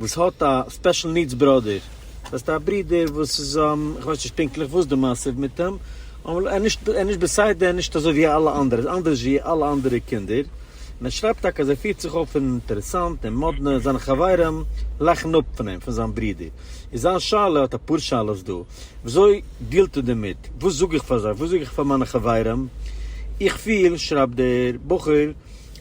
וואס האט א ספעשל נידס ברודער, דאס הייסט א ברודער וואס איז, איך ווייס נישט פונקטליך וואס די מעשה איז מיט אים, אבער ער איז נישט בסדר, נישט אזוי ווי אלע אנדערע, ער איז אנדערש ווי אלע אנדערע קינדער, און ער שרייבט טאקע אז ער פירט זיך אויף אינטערעסאנט און מאדנע, זיינע חברים לאכן אפ פון אים, פון זיין ברודער, איז זיין שאלה, ער האט אפאר שאלות דא, וויאזוי דילט ער דערמיט, וואס זאג איך פאר זיי, וואס זאג איך פאר מיינע חברים, איך פיל, שרייבט דער בחור,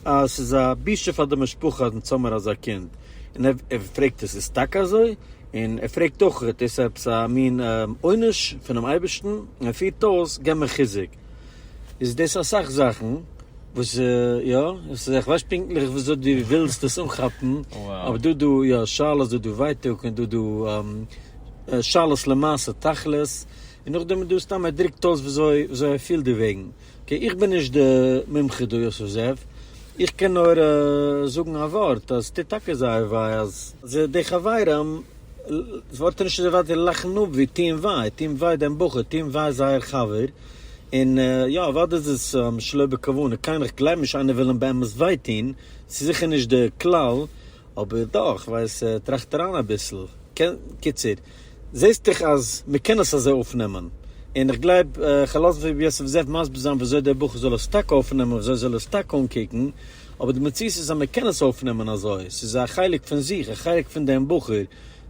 אז עס איז א בושה פאר די משפחה אז מען האט זומער אזא קינד, און ער פרעגט עס איז טאקע אזוי? און ער פרעגט אויך איז דאס עפעס א מין עונש פונעם אייבערשטן? און ער פירט אויס געב מיר חיזוק. איז דאס אסאך זאכן וואס יא, עס איז איך ווייס פונקטליך וויאזוי דו ווילסט דאס אנכאפן, אבער דא דא יא שאלות דא דא ווייטאג און דא דא שאלות למעשה תכלית, און נאכדעם איז דא סתם ער דרוקט אויס וויאזוי וויאזוי ער פילט דערוועגן. אקעי איך בין נישט די מומחה דא יוסף זאב, איך קען נאר זאגן א ווארט אז ס'טוט טאקע זייער וויי אז די חברים ווארטן נישט אזוי ווייט און לאכן אפ ווי טוען וויי, טוען וויי דעם בחור, טוען וויי זייער חבר, און יא אוודאי איז עס שלא בכוונה, קיינער איך גלייב נישט איינער וויל אים באמת וויי טון, ס'איז זיכער נישט די כלל, אבער דאך כ'ווייס טראכט אריין אביסל, קיצור. זעסט דאך אז מען קען עס אזוי אויפנעמען, און איך גלייב כ'לאז ר' יוסף זאב מסביר זיין וויאזוי דער בחור זאל עס טאקע אויפנעמען און וויאזוי זאל עס טאקע אנקוקן, אבער די מציאות איז אז מען קען עס אויפנעמען אזוי, ס'איז א חלק פון זיך, א חלק פון דעם בחור,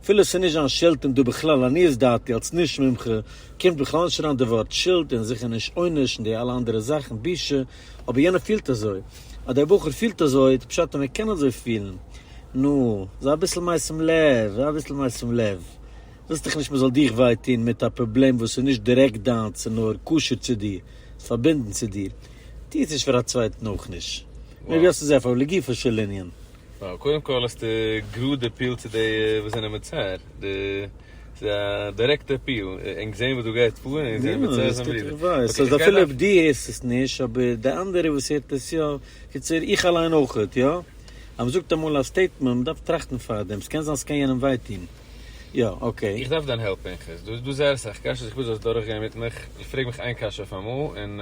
אפילו עס איז נישט זיין שולד און דא בכלל עניות דעתי אלס נישט מומחה קומט בכלל נישט אריין די ווארט שולד און זיכער נישט עונש און די אלע אנדערע זאכן בושה, אבער יענער פילט אזוי, אדער דער בחור פילט אזוי, איז פשט אז מען קען אזוי פילן. נו, זיי אביסל משים לב, זיי אביסל משים לב. ווילסט דאך נישט מען זאל דיך וויי טון מיט א פראבלעם וואס איז נישט דירעקט דיינס און נאר קשור צו דיר, איז פארבינדן צו דיר. טו עס נישט פאר א צווייטן אויך נישט. מער ווי האסטו זיי אפילו לגופו של ענין. וואו קודם כל האסטו גראד אפיעלט צו די וואס זענען מצער, די ס'איז א דירעקטע אפיעל, ענק זעהן וואס דא גייט פאר ענק זעהן ווער צער זענען בריוו, אקעי איך גיי נאך. דו הערסט עס נישט אבער די אנדערע וואס הערט עס יא, קיצור איך אליין אויכעט יא, אז מ'זאגט אמאל א סטעיטמענט מ'דארף טראכטן פארדעם, ס'קען זיין ס'קען יענעם וויי טון, יא אקעי. איך דארף דיין העלפ פנחס, דא איז דא זייער אסאך קשיות איך וויל זאלסט דורכגיין מיט מיך, פרעג מיך איין קשיא אויף אמאל און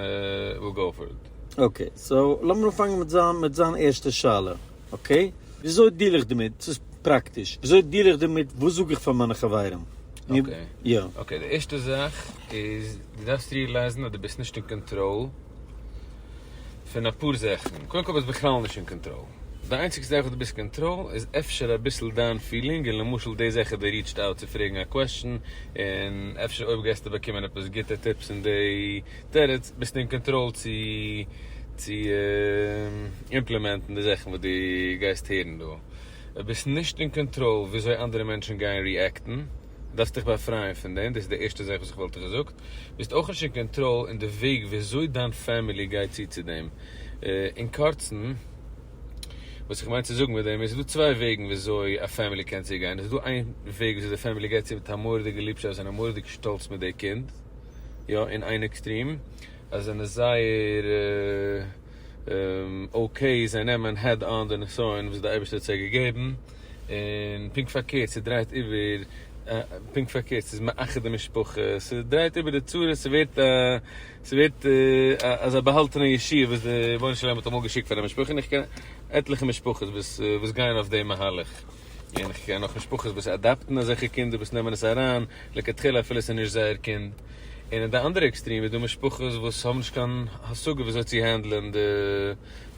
וויל גאו פאר איט. אקעי, סאו לאמיר אנפאנגען מיט זיין מיט זיין ערשטע שאלה, אקעי? וויאזוי דיעל איך דערמיט? ס'איז פראקטיש, וויאזוי דיעל איך דערמיט? וואס זאג איך פאר מיינע חברים? אקעי, יא. אקעי, די ערשטע זאך איז, דו דארפסט ריעלייזן אז דו ביסט נישט אין קאנטראל פון אפאר זאכן. קודם כל ביסט בכלל נישט אין קאנטראל. די איינציגסטע זאך וואס דו ביסט קאנטראל איז אפשר אביסל דיין פילינג, און למשל די זאך אז דו ריעטשט אויט צו פרעגן א קוועשן, און אפשר אויב גייסטו באקומען עפעס גוטע טיפס אין די תירוץ, ביסט אין קאנטראל צו צו אימפלימענטן די זאכן וואס דו גייסט הערן דא. אויב ביסט נישט אין קאנטראל וויאזוי אנדערע מענטשן גייען ריעקטן, דארפסט דיך באפרייען פון דעם, דאס איז די ערשטע זאך וואס איך וואלט דיך געזאגט. ביסט אויך נישט אין קאנטראל אין די וועג וויאזוי דיין פעמילי גייט צו צו דעם. אין קורצן, וואס איך מיין צו זאגן מיט דעם איז, ס'איז דא צוויי וועגן וויאזוי א פעמילי קען צוגיין. עס איז דא איין וועג וויאזוי די פעמילי גייט צו מיט א מורא'דיגע ליבשאפט און א מורא'דיגע שטאלץ מיט די קינד. יא אין איין עקסטרים אז זיי זענען זייער אקעי זיי נעמען העד אן די נסיון וואס די אייבערשטער האט זיי געגעבן, און פונקט פארקערט ס'דרייט איבער פונקט פארקערט ס'איז מאחד די משפחה ס'דרייט איבער די צרות ס'ווערט א ס'ווערט א אזא באהאלטענע ישועה וואס די רבונו של עולם האט אמאל געשיקט פאר א משפחה און איך קען עטליכע משפחות וואס וואס גייען אויף די מהלך. און איך קען אויך משפחות וואס אדאפטן אזעלכע קינדער וואס נעמען עס אריין לכתחילה אפילו עס איז נישט זייער קינד, און אין די אנדערע עקסטרים איז דא משפחות וואס האבן נישט קיין השגה ווי אזוי צו הענדלען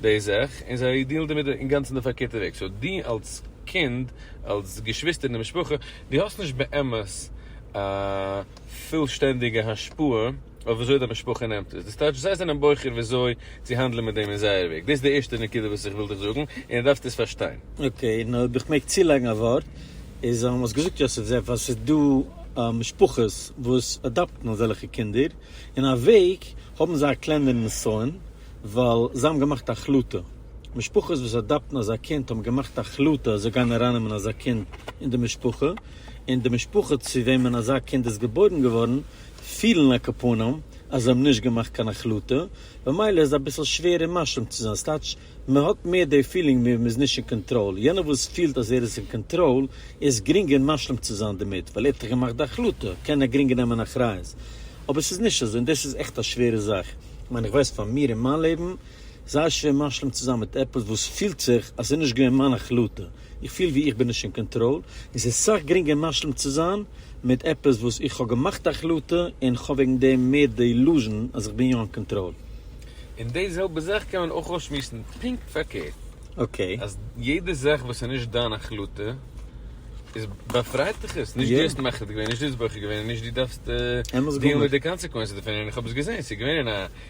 די זאך און זיי דילן דערמיט אינגאנצן די פארקערטע וועג, סאו דו אלס קינד אלס געשוויסטער אין די משפחה דו האסט נישט באמת א. פולשטענדיגע השפעה אויף וויאזוי די משפחה נעמט עס, דאס טייטש זיי זענען בוחר וויאזוי צו האנדלען מיט דעם אין זייער וועג, דאס איז די ערשטע נקודה וואס איך וויל דיך זאגן, און דו דארפסט עס פארשטיין. אקעי, און אויב איך מעג צולייגן א ווארט, איז אז האסט געזאגט יוסף זאב אז ס'איז דא משפחות וואס אדאפטן אזעלכע קינדער, אין א וועג האבן זיי א קלענערן נסיון, ווייל זיי האבן געמאכט א החלטה. משפחות וואס אדאפטן אזא קינד האבן געמאכט א החלטה אז זיי גייען ארייננעמען אזא קינד אין די משפחה, און די משפחה צו וועמען אזא קינד איז געבוירן געווארן פילן על כפונם אז זיי האבן נישט געמאכט קיין החלטה, במילא איז אביסל שווער אים מאשים צו זיין, ס'טייטש מען האט מער די פילינג ווי מען איז נישט אין קאנטראל, יענער וואס פילט אז ער איז אין קאנטראל איז גרינגער משלים צו זיין דערמיט ווייל ער האט דאך געמאכט די החלטה קען ער גרינגער נעמען אחריות, אבער ס'איז נישט אזוי און דאס איז עכט א שווערע זאך, כ'מיין איך ווייס פאר מיר אין מיין לעבן זייער שווער משלים צו זיין מיט עפעס וואס פילט זיך אז ס'איז נישט געווען מיין החלטה, איך פיל ווי איך בין נישט אין קאנטראל, און ס'איז סאך גרינגער משלים צו זיין מיט עפעס וואס איך האב געמאכט א החלטה און איך האב וועגן דעם מער די אילוזשן אז איך בין יא אין קאנטראל. און די זעלבע זאך קען מען אויך אויסשמועסן פונקט פארקערט, אקעי. אז יעדע זאך וואס איז נישט דיין החלטה איז באפרייט דיך עס, נישט דו האסט מחליט געווען, נישט דו האסט בוחר געווען און נישט דו דארפסט דילן מיט די קאנסעקווענסעס דערפון און איך האב עס געזען, ס'איז געווען אין א.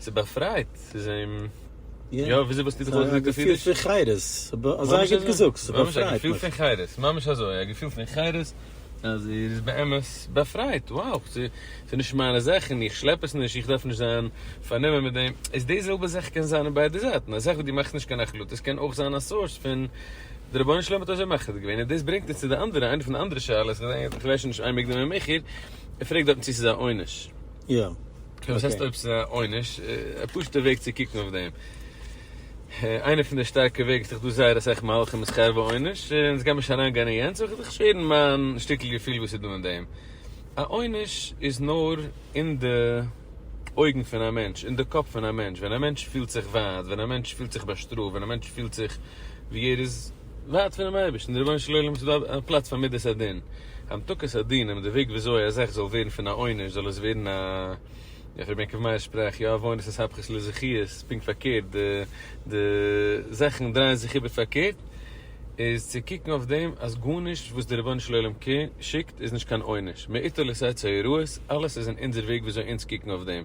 ס'באפרייט, ס'איז אים, יא, וויאזוי וואלסטו זיך אויסגעדרוקט אויף אידיש? א געפיל פון חירות, אזוי גוט געזאגט, ס'באפרייט מיך. א געפיל פון חירות, ממש אזוי, א געפיל פון חירות, אז ער איז באמת באפרייט, wow, ס'איז נישט מיינע זאכן, איך שלעפ עס נישט, איך דארף נישט זיין פארנומען מיט דעם, איז די זעלבע זאך קען זיין אין ביידע זייטן, א זאך וואס דו מאכסט נישט קיין החלטות קען אויך זיין א סארס פון דער רבונו של עולם האט אזוי מחליט געווען, און דאס ברענגט אונז צו די אנדערע, איינע פון די אנדערע שאלות, איך ווייס שוין נישט איין מקדים ממכר, ער פרעגט דארטן צי ס'איז א עונש. יא. וואס הייסט אויב ס'איז א עונש? א פשוטע וועג צו קוקן אויף דעם. איינע פון די שטארקע וועג ס'איז דאך דא זייער אסאך מהלכים בשכר ועונש, און אונז גיימיר נישט אריינגיין אין יענץ, אבער כ'וויל זיך שעירן מיין שטיקל געפיל וואס איז דא אין דעם. א עונש איז נאר אין די אויגן פון א מענטש, אין די קאפ פון א מענטש. ווען א מענטש פילט זיך ווייט, ווען א מענטש פילט זיך באשטראפט, ווען א מענטש פילט זיך ווי ער איז. ווארט פונעם אייבערשטן, די רבונו של עולם איז דא א פלאץ פאר מדת הדין, המתקת הדין, און די וועג ווי אזוי א זאך זאל ווערן פון א עונש זאל עס ווערן א, איך רבי יעקב מאיר'ס שפראך, יא עוונות איז הפכות לזכיות, פונקט פארקערט, די די זאכן דרייען זיך איבער פארקערט, איז צו קוקן אויף דעם אז גארנישט וואס די רבונו של עולם שיקט איז נישט קיין עונש, מאיתו לסעצה הרעות, אלעס איז אין אונזער וועג ווי אזוי אונז קוקן אויף דעם.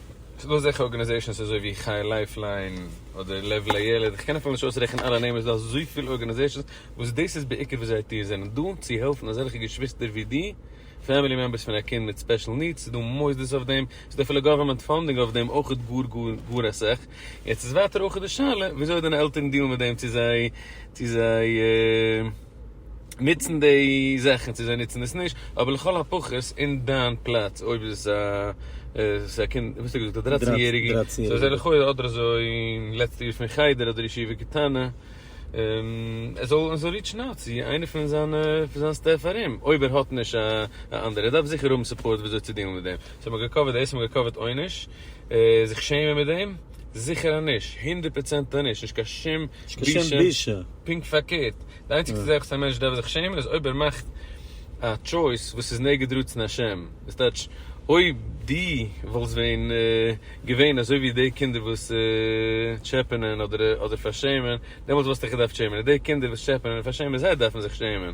ס'דא אזעלכע ארגאניזעישאנס אזוי ווי חי' לייפליין אדער לב לילד, כ'קען אפילו נישט אויסרעכענען אלע נעמען, ס'דא אזויפיל ארגאניזעישאנס וואס דאס איז בעיקר וואס זייער טיר זענען דא צו העלפן אזעלכע געשוויסטער ווי דו, פעמילי מעמבערס פון א קינד מיט ספעשל נידס, ס'דא מוסדות אויף דעם, ס'דא אפילו גאווערמענט פאנדינג אויף דעם אויך גאר גאר גאר אסאך, יעצט איז ווייטער אויך די שאלה וויאזוי דיינע עלטערן דיעלן מיט דעם צו זיי צו זיי. נוצן די זאכן צו זיי נוצן עס נישט, אבער לכל הפחות אין דיין פלאץ אויב איז עס א עס איז א קינד וואס האסטו געזאגט א דרייצן יעריגע סאו עס איז לכאורה אדער אזוי לעצטע יאר פון חדר אדער ישיבה קטנה ער זאל ער זאל ריטשן אוט צו איינער פון זיינע פון זיין סטעף ארום אויב ער האט נישט א אנדערע ער דארף זיכער האבן סופארט וויאזוי צו דילן מיט דעם סאו מ'האט געקאווערט דאס און מ'האט געקאווערט עונש. זיך שעמען מיט דעם? זיכער נישט, הונדערט פראצענט נישט, נישט קיין שום בושה, פונקט פארקערט, די איינציגסטע זאך וואס א מענטש דארף זיך שעמען איז אויב ער מאכט א טשויס וואס איז נגד רצון השם, דאס טייטש אויב דו וואלסט ווען געווען אזוי ווי די קינדער וואס טשעפענען אדער פארשעמען, דעמאלטס וואלסטו דיך געדארפט שעמען, די קינדער וואס טשעפענען און פארשעמען זיי דארפן זיך שעמען.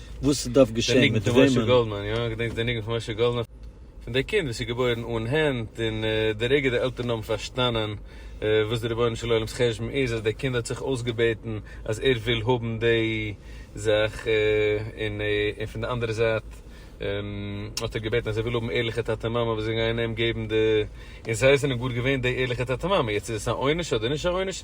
וואס עס דארף געשען מיט וועמען. פון דער קינד וואס איז געבוירן אן הענט און די רגע די עלטערן האבן פארשטאנען וואס די רבונו של עולם'ס חשבון איז אז דער קינד האט זיך אויסגעבעטן אז ער וויל האבן די זאך און פון די אנדערע זייט האט ער געבעטן אז ער וויל האבן ערליכע טאטע מאמע וואס זאלן גייען אים געבן די און זיי זענען גאר געווען די ערליכע טאטע מאמע יעצט איז עס א עונש אדער נישט א עונש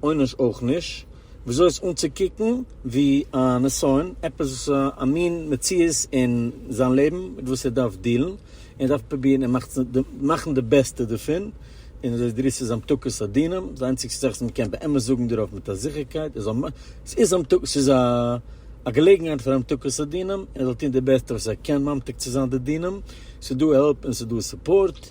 עונש אויך נישט, וויאזוי איז אנצוקוקן ווי א נסיון, עפעס א מין מציאות אין זיין לעבן מיט וואס ער דארף דילן, און ער דארף פרובירן און מאכן די בעסטע דערפון, און אזוי דער איסור איז המתקות הדינם, די איינציגסטע זאך וואס מען קען באמת זאגן דערויף מיט א זיכערקייט איז ס'איז המתקות, ס'איז א געלעגנהייט פאר המתקות הדינם, ער זאל טון די בעסטע וואס ער קען ממתיק צו זיין די דינם, ס'איז דא העלפ און ס'איז דא סופארט.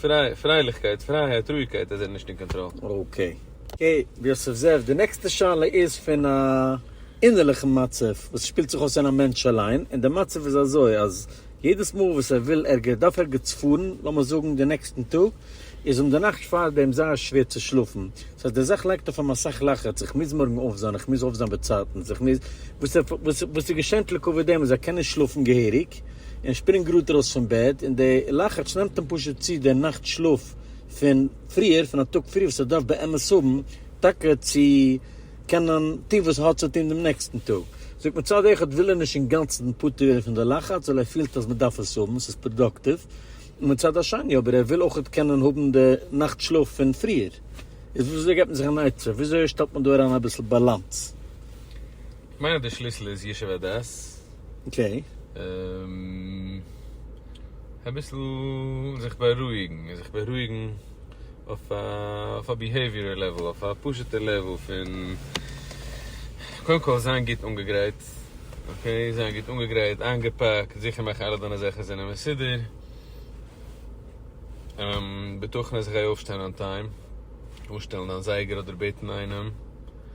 פריי, פרייליכקייט, פרייהייט, רואיגקייט אז ער איז נישט אין קאנטראל. אקעי. אקעי ר' יוסף זאב, די נעקסטע שאלה איז פון א אינערליכן מצב וואס שפילט זיך אויס אין א מענטש אליין, און די מצב איז אזוי אז יעדעס מאל וואס ער וויל ערגער דארף ערגעץ פארן, לאמיר זאגן די נעקסטן טאג, איז אים די נאכט פארדעם זייער שווער צו שלאפן, דאס הייסט די זאך לייגט אויף אים אסאך לחץ, איך מוז מארגן אויפזיין, איך מוז אויפזיין באצייטנס, איך מוז, וואס איז געשענט לקבוע דעם אז ער קען נישט שלאפן געהעריג? ווייניג, און שפרינגט גראד ארויס פון בעט, און די לחץ נעמט אים פשוט צו די נאכט שלאף פון פריער, פון א טאג פריער וואס ער דארף באמת האבן טאקע צו קענען טון וואס ער האט צו טון דעם נעקסטן טאג. זאגט מצד אחד וויל ער נישט אינגאנצן פטור ווערן פון די לחץ, ווייל ער פילט אז מען דארף עס האבן, ס'איז פראדאקטיוו, און מצד השני אבער ער וויל אויך קענען האבן די נאכט שלאף פון פריער. איז וויאזוי געבט מען זיך אן עצה? וויאזוי שטעלט מען דא אריין אביסל באלאנס? כ'מיין אז די שליסל איז ישוב הדעת. אקעי. אביסל זיך בארואיגן, זיך בארואיגן אויף א ביהעיוויערעל לעוועל, אויף א פשוט'ער לעוועל פון, קודם כל זיין גוט אנגעגרייט, אקעי, זיין גוט אנגעגרייט, איינגעפאקט, זיכער מאכן אלע דיינע זאכן זענען מסודר, בטחון אז איך גיי אויפשטיין אן טיים, אנשטעלן דיין זייגער אדער בעטן איינעם.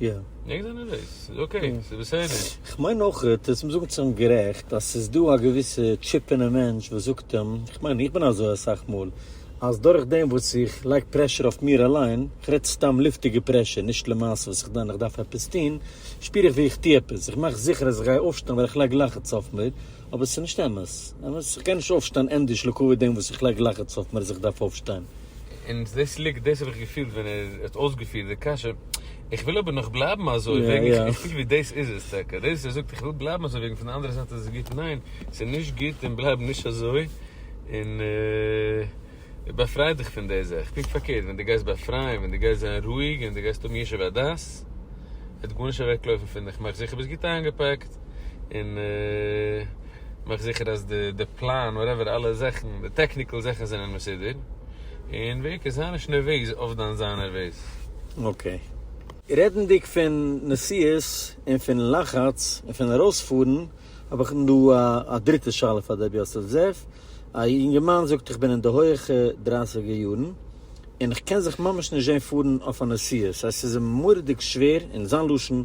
יא. ניק זענען דאס, ס'איז אקעי, ס'איז בסדר. כ'מיין אויך, עס מוז זאגן צו אים גערעכט, אז ס'איז דא א געוויסע טשיפ אינעם מענטש וואס זאגט אים, כ'מיין איך בין אזוי אסאך מאל, אז דורך דעם וואס איך לייג פרעשור אויף מיר אליין, כ'רעד סתם לופטיגע פרעשור, נישט למעשה וואס כ'דען איך דארף עפעס טון, שפיר איך ווי איך טו עפעס, איך מאך זיכער אז איך גיי אויפשטיין ווייל איך לייג לחץ אויף מיר, אבער ס'איז נישט אמת. אמת, איך גיי נישט אויפשטיין ענדערש לקוי דעם וואס איך לייג לחץ אויף מיר אז איך דארף אויפשטיין. און דאס ליגט דאס האב איך געפילט ווען ער האט אויסגעפירט די קשיא, איך וויל אבער נאך בלייבן אזוי וועגן איך פיל ווי דאס איז עס טאקע, דאס ער זאגט איך וויל בלייבן אזוי וועגן פון די אנדערע זייט איז עס גוט, ניין ס'איז נישט גוט און בלייב נישט אזוי און באפריי דיך פון די זאך, פונקט פארקערט ווען דו גייסט באפרייען ווען דו גייסט זיין רואיג און דו גייסט האבן ישוב הדעת וועט גארנישט אוועקלויפן פון דיך, מאך זיכער ביסט גוט איינגעפאקט און. מאך זיכער אז די די פלאן וואטעווער אלע זאכן די טעקניקעל זאכן זענען מסודר און בעיקר זיי נישט נערוועז אויף דיין זיין נערוועז. אקעי. רעדנדיג פון נסיעות און פון לחץ און פון ארויספארן האב איך דא א דריטע שאלה פאר דער יוסף זאב. א יונגערמאן זאגט איך בין אין די הויעכע דרייסיגער יארן און איך קען זיך ממש נישט זען פארן אויף א נסיעה סאיז אים מורא'דיג שווער און זיין לשון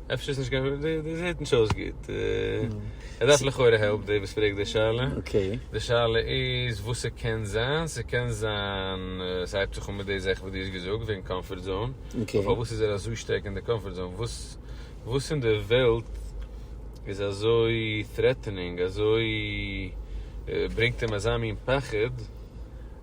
אפשר איז נישט קיין, די די זעט נישט אויס גוט, ער דארף לכאורה העלפ די וואס פרעגט די שאלה, די שאלה איז וואס ס'קען זיין, ס'קען זיין ס'הייבט זיך אן מיט די זאכן וואס דו האסט געזאגט וועגן קאמפארט זאון, אבער פארוואס איז ער אזוי שטארק אין די קאמפארט זאון, וואס וואס אין די וועלט איז אזוי טרעטענינג, אזוי ברענגט אים אזא מין פחד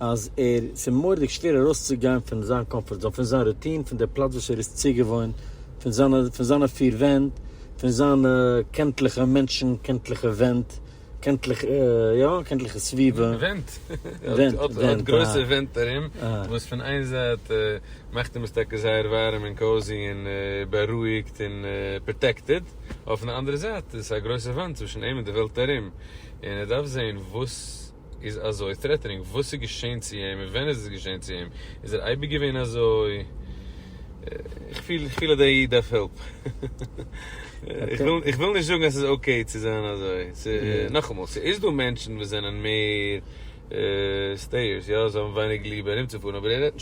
אז ער ס'איז מורא'דיג שווער ארויסצוגיין פון זיין קאמפארט זאון, פון זיין רוטין, פון די פלאץ וואס ער איז צוגעוואוינט, פון זיינע פון זיינע פיר ווענט, פון זיינע קענטליכע מענטשן, קענטליכע ווענט, קענטליכע, יא, קענטליכע סביבה. ווענט. ווענט, ווענט, ער האט גרויסע ווענט ארום, וואס פון איין זייט מאכט אים עס טאקע זייער ווארעם און קאוזי און בארואיגט און פראטעקטעד, אויפן אנדערע זייט איז עס א גרויסע וואנט צווישן אים און די וועלט ארום, און ער דארף זעהן וואס. איז אזוי טרעטענינג? וואס איז געשען צו אים און ווען איז עס געשען צו אים? איז ער אייביג געווען אזוי? איך פיל פיל אז דער איד דארף הילף. איך וויל איך וויל נישט זאגן אז ס'איז אקעי צו זיין אזוי. ס'איז נאכאמאל ס'איז דא מענטשן וואס זענען מער סטעיערס יא זיי האבן ווייניג ליב ארומצופארן אבער ער רעדט נישט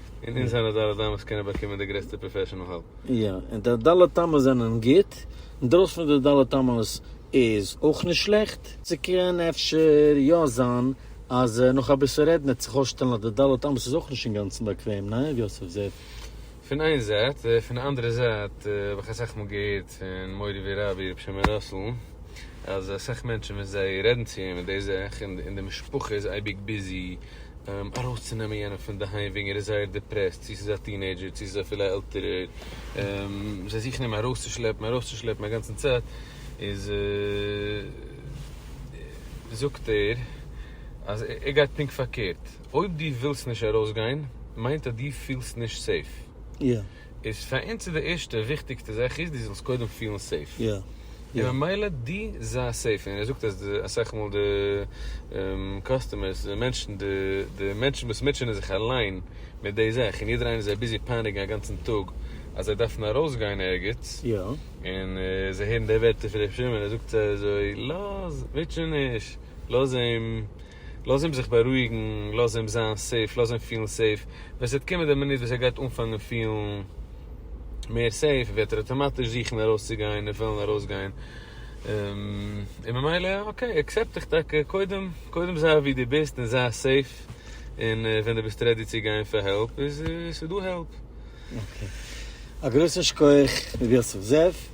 און אונז זענען ד' אמות וואס קענען באקומען די גרעסטע פראפעשענעל העלפ. יא, און די ד' אמות זענען גוט, און דרויסן פון די ד' אמות איז אויך נישט שלעכט. ס'קען אפשר יא זיין אז נאך אביסל רעדן וועט זיך אויסשטעלן אז די ד' אמות איז אויך נישט אינגאנצן באקוועם, ניין ר' יוסף זאב? פון איין זייט, פון די אנדערע זייט האב איך אסאך מאל געהערט פון מורי ורבי ר' שמעון ראסל אז אסאך מענטשן ווען זיי רעדן צו אים אין די זאך און די משפחה איז אייביג ביזי, ארויסצונעמען יענעם פון די היים וועגן ער איז זייער דיפרעסט, צו ס'איז א טינעידזשער צו ס'איז אפילו א עלטערער, זיי זוכן אים ארויסצושלעפן ארויסצושלעפן א גאנצן צייט, איז זאגט ער אז ער גייט פונקט פארקערט, אויב דו ווילסט נישט ארויסגיין מיינט אז דו פילסט נישט סעיף. איז פאר אונז איז די ערשטע וויכטיגסטע זאך איז דו זאלסט קודם פילן סעיף. און ממילא דו זיי סעיף. און ער זאגט אז די אסאך מאל די קאסטומערס די מענטשן די די מענטשן וואס מוטשענען זיך אליין מיט די זאך און יעדער איינער זיי ביזי פייניגן א גאנצן טאג אז זיי דארפן ארויסגיין ערגעץ און זיי הערן די ווערטער פון ר' שמעון ער זאגט זיי אזוי לאז מוטשע נישט לאז אים לאז אים זיך בארואיגן, לאז אים זיין סעיף, לאז אים פילן סעיף, ווען ס'וועט קומען די מינוט וואס ער גייט אנפאנגען פילן מער סעיף וועט ער אטאמאטיש זוכן ארויסצוגיין און וועלן ארויסגיין, און ממילא אקעי עקסעפט דיך טאקע, קודם קודם זיי ווי דו ביסט און זיי סעיף, און ווען דו ביסט רעדי צו גיין פאר העלפ איז ס'דא העלפ. אקעי, א גרויסן שכח ר' יוסף זאב.